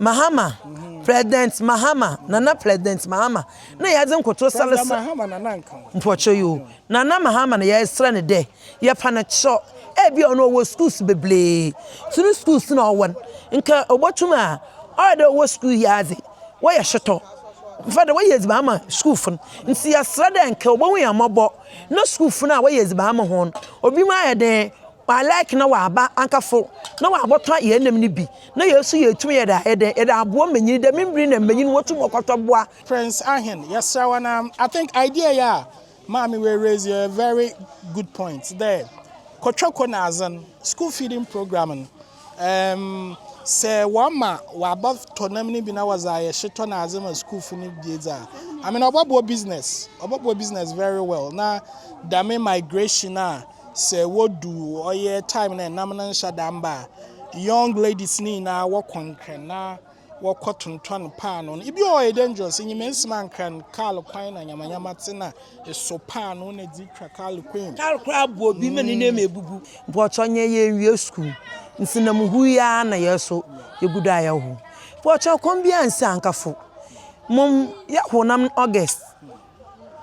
Mahama, President Mahama, Nana President Mahama na yɛdze nkotoro salesa mpɔkyerɛ yi o. Nana Mahama no yɛreserɛ no dɛ yɛfa no kyerɛ ebi a ɔno ɔwɔ skuuls bebiree. Nso no skuuls no a ɔwɔ no, nka obotum a ɔyɛ dɛ ɔwɔ skuul yi ara dze wɔyɛ shotɔ fa dɛ wɔyɛ edziban ama skuulfo no. Ntsi yɛserɛ dɛ nka obohu hɛn mbɔbɔ na skuulfo no a wɔyɛ edziban ama hɔn no, obinom ayɛ dɛn Wa like na wa ba anka fo na wa bɔ tɔ yɛ nam ni bi na yɛ su yɛ tum yɛ da yɛ dɛ yɛ da aboɔ manyini dɛ mimbiri na manyini wɔ tum ɔkɔ tɔ boa. Prince Ahen yɛsrɛ wo na I think idea yi a maame wei raise yɛ very good point dɛ kɔtwɛ ko na adze no school feeding program no um sɛ wɔ ma wa bɔ tɔ nam ni bi na wɔdze ayɛ hye tɔ na adze ma school fo no bi dze a I mean ɔbɔ boa business ɔbɔ boa business very well na dame migration a sɛ wodu ɔyɛ time na ɛnam no nhyɛ da mba a young ladies no nyinaa wɔkɔ nkran na wɔkɔ tontɔn paano no ebi wɔ yɛ dangerous enyima nsima nkran kaal kwan na nyamanyama te na eso paano na dzi twa kaal kwan kaal kora abu obi ma ne nneɛma ebubu mpɔkyɛ nyɛ yɛ nwie sukuu nti na mu hu ya na yɛ so yɛ gu do a yɛ ho mpɔkyɛ kɔm bi ansi ankafo mom yɛ ho nam august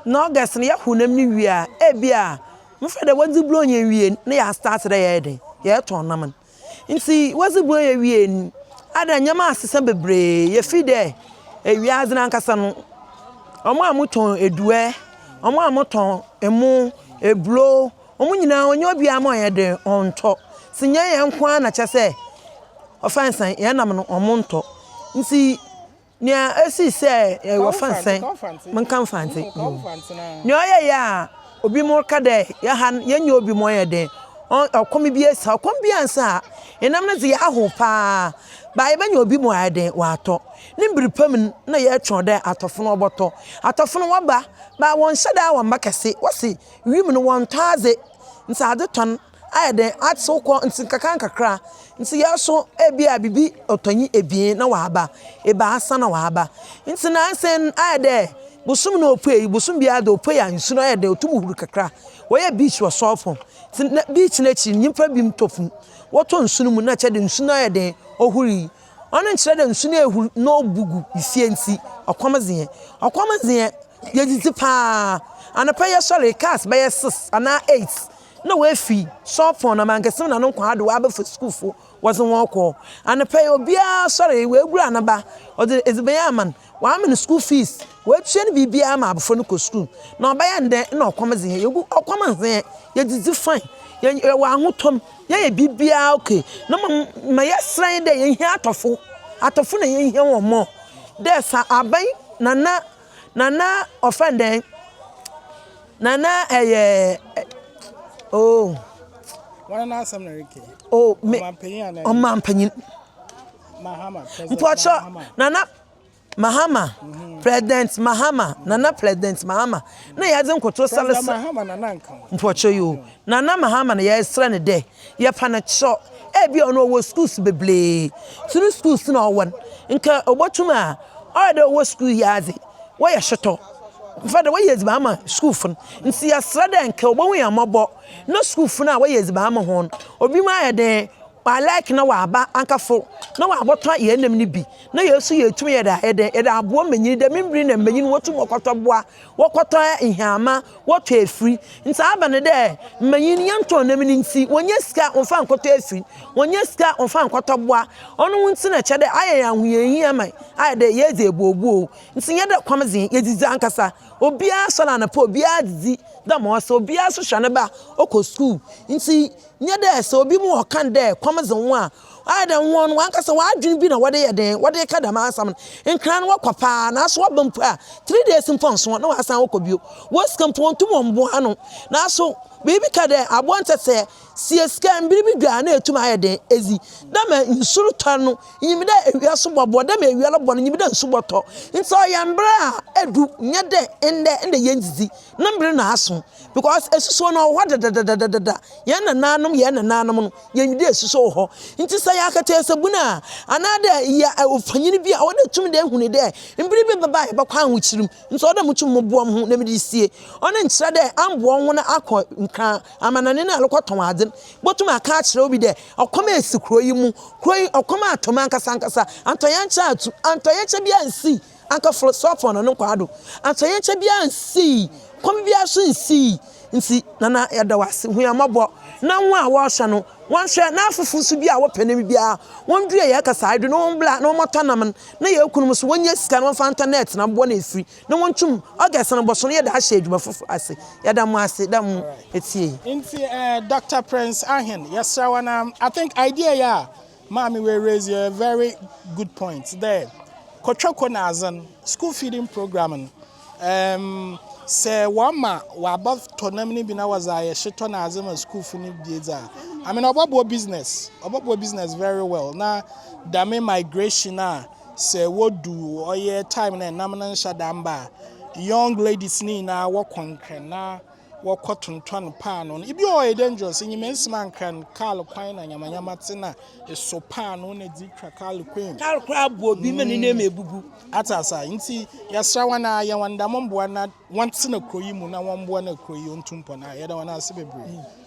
na August no yɛ honam no wie a, ebia mfa dɛ wɔdze Buronya wie no, na yɛastaate dɛ yɛyɛ dɛn, yɛrotɔn nam no. Ntsi wɔdze Buronya wie no, adɛn, ndzɛmba asesa beberee. Yefir dɛ ewiadze no ankasa no, hɔn a wɔtɔn eduɛ, hɔn a wɔtɔn emo, eburow, hɔn nyina ɔnnyɛ obiara mma ɔnyɛ dɛn, ɔnntɔ. Ntsi nnyɛ hɛn nkoara na kyerɛ sɛ ɔfa nsan, hɛn nam no, wɔnntɔ. Ntsi. Nea esii sɛ wɔfa nsɛn, menka Mfantse bio. Nea ɔyɛe a obi mo reka dɛ yɛha no yɛnyɛ obi ma ɔyɛ dɛn, ɔkɔm bi esa, ɔkɔm bi annsa a, enam no dze yɛahow paa, ba yɛbɛnyɛ obi ma ɔayɛ dɛn, ɔatɔ. Ne mber pa mu no, nna yɛrotweɔn dɛ atɔfo no wɔbɔtɔ. Atɔfo no wɔba, ba wɔnnhyɛ da a wɔmmba kɛse, wɔse wimu no wɔnntɔ adze, ntsi adze tɔn. ayɛ dɛn atsew kɔ ntsi nkakrankakra ntsi yɛaso ebi a biribi ɔtɔnyi ebien na ɔaba, ebiasa na ɔaba. Ntsi nansɛ no ayɛ dɛ bosoom na opuei, bosoom biara dze opuei a nsu no ayɛ dɛ otum hur kakra. Wɔyɛ beach wɔ sɔɔfo ntsi nna beach n'ekyir no nyimpa binom tɔ fun, wɔtɔ nsu no mu na kyerɛ dɛ nsu no ayɛ dɛn, ohur yi. Ɔno nnkyerɛ dɛ nsu no ehur na obu gu fie ntsi ɔkɔm dze hɛn. Ɔkɔm dze hɛn, yedzidzi paa, anapa yɛsoɛr yi cars bɛyɛ six anaa eight Nna woefi Sorpon na Mangesim na no nkwaa do wɔabɛfa skuulfo wɔdze hɔn rokɔ. Anapa yi, obiara soɛree, oegura ne ba, ɔdze edziban ama no, ɔama no skuul fees, oetua no biribiara ma abofra no kɔ skuul. Na ɔbɛyɛ ndɛ nna ɔkɔm dze hɛn, yegu ɔkɔm ndze hɛn, yedzidzi fine, yɛwɔ ahotɔ mu, yɛyɛ biribiara ok, na mbom ma yɛserɛ nye dɛ yehia atɔfo, atɔfo na yehia hɔn more dɛ fa aban, Nana, Nana, wɔfrɛ no dɛn? Na na ɛyɛ oh. Wɔn na asɛm na ɛrekɛ. Oh me ɔmanpanyin anaa. Ɔmanpanyin. Mahama president. Mpɔtɔ nana Mahama mhm. president Mahama nana president Mahama na yɛadze nkoto sale sa. Mahama nana nka. Mpɔtɔ yi o mhm. nana Mahama na yɛsrɛ ne dɛ yɛpa ne kyerɛ ebi a ɔno ɔwɔ schools bebree tunu schools na ɔwɔ no nka ɔbɔtum a ɔyɛ dɛ ɔwɔ school yi adze. Wɔyɛ shotɔ fa dɛ wɔyɛ edziban ma skuulfo no, ntsi yɛserɛ dɛ nka obohu hɛn mbɔbɔ na skuulfo no a wɔyɛ edziban ma hɔn no, obinom ayɛ dɛn, wɔalike na wɔaba ankafo na wɔabɔtɔ hɛn nam no bi na hɛn so yeetum yɛdze ayɛ dɛn, yɛdze aboa mbanyin, dɛm mber yi na mbanyin wotum wɔkɔtɔ boa, wɔkɔtɔ nhyɛanma, Wɔtɔ efir. Ntsi aber no dɛ mbanyin yɛnntɔn nam no ntsi, wonnya sika wɔmfa nkɔtɔ efir, wonnya sika wɔmfa nkɔtɔ boa. Ɔno ho ntsi na kyerɛ dɛ ayɛ hɛn ahohiahia ma ayɛ dɛ yeedzi ebuobuow. Ntsi nnyɛ dɛ kɔm dze hɛn, yedzidzi ankasa. Obiara soɛr anapa, obiara dzidzi dɛ ma ɔsɛ, obiara so hwɛ ne ba ɔkɔ skuul. Ntsi nnyɛ dɛ sɛ obi mu ɔka no dɛ kɔm dze wo a, Ɔayɛ dɛ hɔn wankasa hɔn adwen bi na wɔdze yɛ dɛn, wɔdze reka dɛm asɛm no. Nkran no wɔkɔ paa, naaso wɔba mpo a, three days mpo nnso na wɔasan akɔ bio. Hɔn sika mpo wonntum mmboa ano. Naaso, biribi ka dɛ, abowa ntsɛtsɛɛ, sie sika, mber bi du a nna etum ayɛ dɛn, edzi. Nna ma nsu rotɔr no, inyim dɛ ewia so bɔbɔ, dɛ ma ewia robɔ no, inyim dɛ nsu bɔtɔ. Ntsi ɔyɛ mber a edu, nnyɛ dɛ ndɛ, ndɛ yenndzidzi, no mber no aso, because esusuo no ɔwɔ hɔ dedadadadada, hɛn nanaanom, hɛn nanaanom no, Yɛnyi dɛ susu wɔ hɔ. Ntsi sɛ yɛ akataase bun a, anaadɛ yɛ ɔfanyin bi a, ɔwɔ dɛ itum dɛ hun dɛ mber bi bɛba a yɛbɔkɔ ahokyer mu. Ntsi ɔwɔ dɛ mutum moboa moho na medze sie. Ɔno nnkyerɛ dɛ ammboa woho na akɔ nkaa amanɔne na arokɔtɔn adze no. Ibotum akã akyerɛ obi dɛ, ɔkɔm esi kurow yi mu. Kurow yi, ɔkɔm atɔ mu ankasankasa. Antɔyɛnkyɛ atu. Antɔyɛnkyɛ biara nnsii. anka foro so afɔn no nkwaa do. Ankyɛnyɛnkyɛ biara nnsii, kɔm biara so nnsii. Ntsi, Nana, yɛda wo ase, hu hɛn mbɔbɔ, na hɔn a wɔrohwɛ no, wɔnhwɛ, na afofor so bi a wɔpɛ nam biara, wondua hɛn kasaa yi do, na wɔmbla, na wɔmmɔtɔ nam no, na hɛn kunnom so, wonyia sika na wɔmfa ntɔ nɛɛt na mbobɔ no efir, na wontwum. August no bɔso no, yɛdze ahyɛ edwuma fofor ase. Yɛda mo ase dɛ mo etsiei. Ntsi, Doctor Prince Ahene, yɛserɛ wo, na I think idea yi a. Maame wei raise a very good point dɛ kotwako n'adze no school feeding program no um, sɛ wɔma wɔaba tɔ nam no bi na wɔdze ayɛ hyetɔ n'adze ma sukuufo no bi dze a I mean ɔbɔboa business ɔbɔboa business very well na dame migration a sɛ wodu ɔyɛ time na nam no nhyɛ da mba a young ladies ne nyinaa wɔkɔnkɛn na wɔkɔ tontɔn paanoo no. Ebi ɔyɛ dangerous, enyima nsim ankran, kaal kwan na nyamanyama te na eso paanoo na dzi twa kaal kwan. Kaal kora abu obi ma ne hmm. nneɛma ebubu. Ate asa nti yɛsra wɔn a yɛ wɔn dɛm mboa na wɔn te na kuro yi mu na wɔn mboa na kuro yi ontu mpɔ na yɛda wɔn ase bebree. Hmm.